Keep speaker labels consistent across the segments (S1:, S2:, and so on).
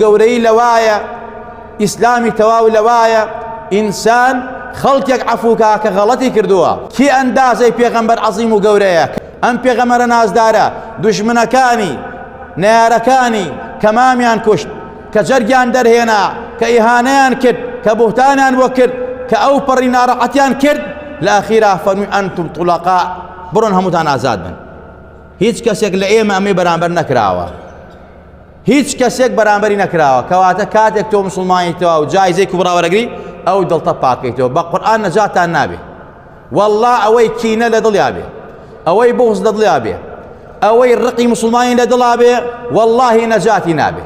S1: گەورەیی لەوایە ئیسلامی تەواو لەوایە ئینسان خەڵکێک عەفوکا کە غەڵەتی کردووە کی ئەندازەی پێغەمبەر عەظیم و گەورەیە ئەم پێغەمەرە نازدارە دژمنەکانی نارەکانی کە مامیان کوشت کە جەرگیان دەرهێنا کە ئیهانەیان کرد کە بوهتانیان بۆ کرد کە ئەو پەڕی ناڕەحەتیان کرد لە ئەخیرا فەرمی ئەنتم طلقاء بڕۆن هەمووتان ئازاد بن هیچ کەسێک لە ئێمە ئەمەی بەرامبەر نەکراوە هیچ کەسێک بەرامبەری نەکراوە کەواتە کاتێک تۆ مسلمانی تەوا و جایزەی کوبرا وەرەگری ئەو دڵتە پاکەیتەوە بە قورآن نەجاتان نابێ والله ئەوەی کینە لە دڵیا بێ ئەوەی بغز لە دڵیا بێ ئەوەی ڕقی مسلمانی لە دڵا بێ واللهی نەجاتی نابێ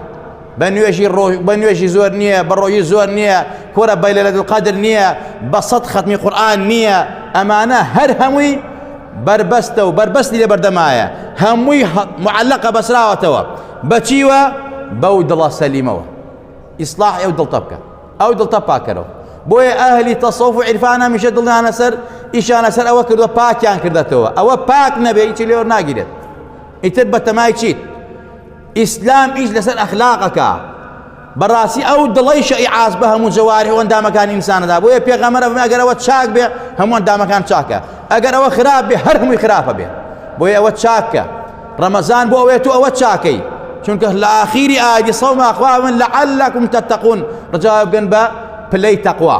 S1: بە نوێژی ڕۆژ بە نوێژی زۆر نییە بە ڕۆژی زۆر نییە کۆرە بەیلە لە دڵقەدر نییە بە سەد خەتمی قورآن نییە ئەمانە هەر هەمووی بەربەستە و بەربەستی لە بەردەمایە هەمووی معلقە بەسراوەتەوە بەچیوە بەو دڵە سەلیمەوە ئیسلاح ئەو دڵتە بکە ئەو دڵتە پاکەرەوە بۆیە ئەهلی تەسەوف و عیرفان هەمیشە دڵیانە سەر ئیشانە سەر ئەوە کردوە پاکیان کردێتەوە ئەوە پاک نەبێ هیچی لێوە ناگیرێت ئیتر بەتەمای چیت ئیسلام ئیش لەسەر ئەخلاقەکە بەڕاستی ئەو دڵی شەیعاز بە هەموو جەواری و ئەندامەکانی ئینسانەدا بۆیە پێغەمەرە بمە ئەگەر ئەوە چاک بێ هەموو ئەندامەکان چاکە ئەگەر ئەوە خراپ بێ هەر هەمووی خراپە بێ بۆیە ئەوە چاکە ڕەمەزان بۆ ئەوێت و ئەوە چاکەی چونکە لە ئاخیری ئاگی سەوما خوا من لەعلەکم تەتەقون ڕجاوە بگەن بە پلەی تەقوا